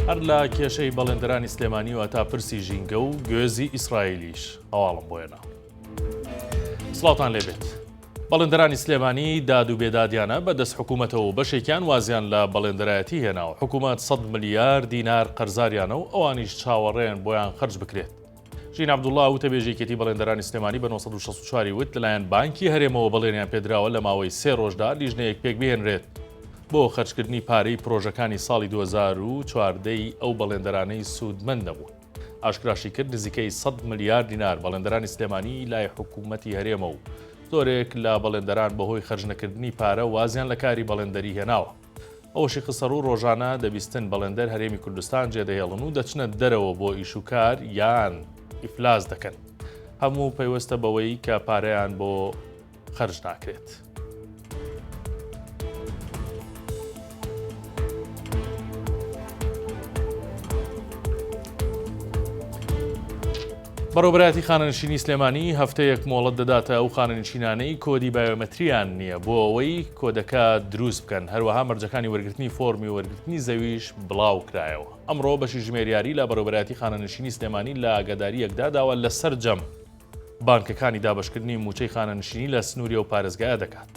هەر لە کێشەی بەڵێندرانی سلێمانی و تا پرسی ژینگە و گوێزی ئیسرائیلیش هەواڵم بۆێنە سڵاتان لێبێت بەڵێندرانی سلێمانی داد و بێدادیانە بە دەست حکوومەتەوە و بەشێکیان وازیان لە بەڵێندرایەتی هێناوە حکوومەت 100 ملیار دینار قەرزاریانە و ئەوانیش چاوەڕێن بۆیان خرج بکرێت ژینا عەبدوڵا، وتەبێژی یەکێتی بەڵێندەرانی سلێمانی بە نۆ سەد و شەست و چوار ی وت، لەلایەن بانکی هەرێمەوە بەڵێنیان پێدراوە لە ماوەی سێ رۆژدا لیژنەیەک پێکبهێنرێت بۆ خەرجکردنی پارەی پرۆژەکانی ساڵی دوو هەزار و چواردە ی ئەو بەڵێندەرانەی سوودمەند نەبوون. ئاشکراشیکرد، نزیکەی سەد ملیار دینار بەڵێندەرانی سلێمانی لای حکومەتی هەرێمە و زۆرێک لە بەڵێندەران بەهۆی خەرجنەکردنی پارە وازیان لە کاری بەڵێندەری هێناوە. ئەوەشی خستەڕوو، رۆژانە دە بیستن بەڵێندەر هەرێمی کوردستان جێدەهێڵن و دەچنە دەرەوە بۆ ئیش و کار یان ئیفلاس دەکەن، هەموو پەیوەستە بەوەی کە پارەیان بۆ خەرج ناکرێت. بەڕێوەبەرایەتی خانەنشینی سلێمانی هەفتەیەک مۆڵەت دەداتە ئەو خانەنشینانەی کۆدی بایۆمەترییان نییە بۆ ئەوەی کۆدەکە دروست بکەن، هەروەها مەرجەکانی وەرگرتنی فۆرمی وەرگرتنی زەویش بڵاوکرایەوە. ئەمڕۆ بەشی ژمێریاری لە بەڕێوەبەرایەتی خانەنشینی سلێمانی لە ئاگادارییەکدا داوا لە سەرجەم بانکەکانی دابەشکردنی مووچەی خانەنشینی لە سنووری ئەو پارێزگایە دەکات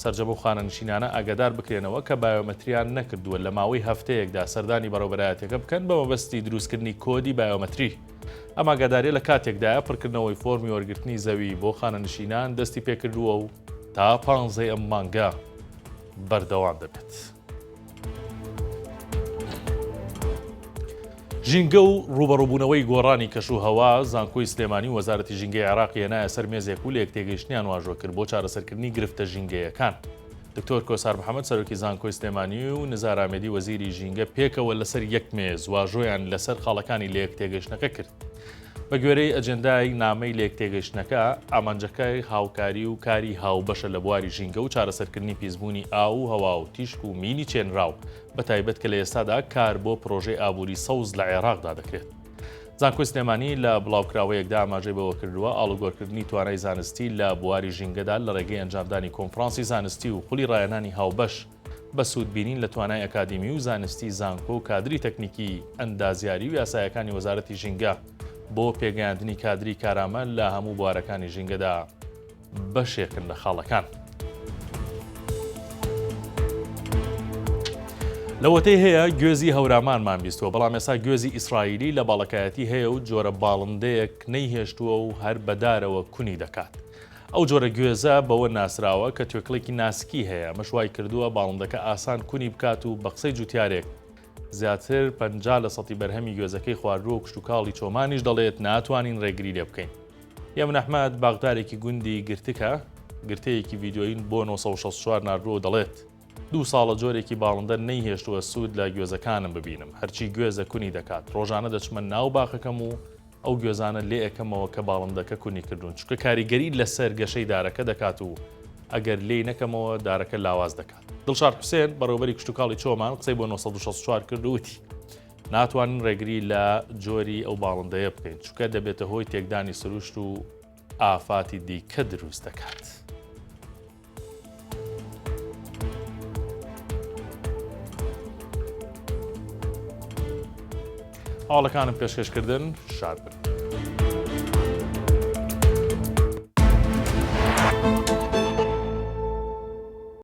سەرجەم ئەو خانەنشینانە ئاگادار بکرێنەوە کە بایۆمەترییان نەکردووە لە ماوەی هەفتەیەکدا سەردانی بەڕێوەبەرایەتییەکە بکەن بە مەبەستی دروستکردنی کۆدی بایۆمەتری. ئەم ئاگادارییە لە کاتێکدایە پڕکردنەوەی فۆرمی وەرگرتنی زەوی بۆ خانەنشینان دەستی پێکردووە و تا پانزەی ئەم مانگە بەردەوام دەبێت. ژینگە و ڕوبەڕوبوونەوەی گۆڕانی کەش و هەوا زانکۆی سلێمانی و وەزارەتی ژینگەی عراقی هێنایە سەر مێزێک و لە یەک تێگەیشتنیان واژۆ کرد بۆ چارەسەرکردنی گرفتە ژینگەیەکان. دکتۆر کۆسار محەمەد سەرۆکی زانکۆی سلێمانی و نزار ئامێدی وەزیری ژینگە پێکەوە لەسەر یەک مێز واژۆیان لەسەر خاڵەکانی لەیەکتێگەیشتنەکە کرد. بە گوێرەی ئەجێندای نامەی لەیەکتێگەیشتنەکە، ئامانجەکەی هاوکاری و کاری هاوبەشە لە بواری ژینگە و چارەسەرکردنی پیسبوونی ئاو و هەوا و تیشک و مینی چێنراو، بەتایبەت کە لە ئێستادا کار بۆ پرۆژەی ئابووری سەوز لە عێراقدا دەکرێت. زانکۆی سلێمانی لە بڵاوکراوەیەکدا ئاماژەی بەوەکردووە، ئاڵوگۆرکردنی توانای زانستی لە بواری ژینگەدا لە ڕێگەی ئەنجامدانی کۆنفرانسی زانستی و خولی ڕایەنانی هاوبەش بە سوودبینین لە توانای ئەکادیمی و زانستی زانکۆ و کادری تەکنیکی ئەندازیاری و یاسایەکانی وەزارەتی ژینگە بۆ پێگەیاندنی کادری کارامە لە هەموو بوارەکانی ژینگەدا. بەشێکن لە خاڵەکان. لەوەتەی هەیە گوێزی هەورامانمان بیستوە بەڵام ێسا گوێزی ئیسرائیلی لە باڵەکایەتی هەیە و جۆرە باڵندەیەک نەیهێشتووە و هەر بەدارەوە کونی دەکات. ئەو جۆرە گوێزە بەوە ناسراوە کە توێکڵێکی ناسکی هەیە مەشوای کردووە باڵندەکە ئاسان کونی بکات و بە قسەی جوتیارێک زیاتر پەنجا لە سەتی بەرهەمی گوێزەکەی خواردووە و کشتوکاڵی چۆمانیش دەڵێت ناتوانین رێگری لێ بکەین. یەمن ئەحمەد، باخدارێکی گوندی گرتکە، گرتەیەکی ڤیدیۆیی بۆ نۆ سەد و شەست و چوار ناردووە و دەڵێت، دوو ساڵە جۆرێکی باڵندە نەیهێشتووە سوود لە گوێزەکانم ببینم، هەرچی گوێزە کونی دەکات، رۆژانە دەچمە ناو باخەکەم و ئەو گوێزانە لێ ئەکەمەوە کە باڵندەکە کونی کردوون چونکە کاریگەری لەسەر گەشەی دارەکە دەکات و ئەگەر لێی نەکەمەوە دارەکە لاواز دەکات. دڵشاد حوسێن، بەڕێوەبەری کشتوکاڵی چۆمان قسەی بۆ نۆ سەد و شەست و چوار کرد و وتی، ناتوانین ڕێگری لە جۆری ئەو باڵندەیە بکەین چونکە دەبێتە هۆی تێکدانی سروشت و ئافاتی دیکە دروست دەکات. هەواڵەکانم پێشکەشکردن شاد بن.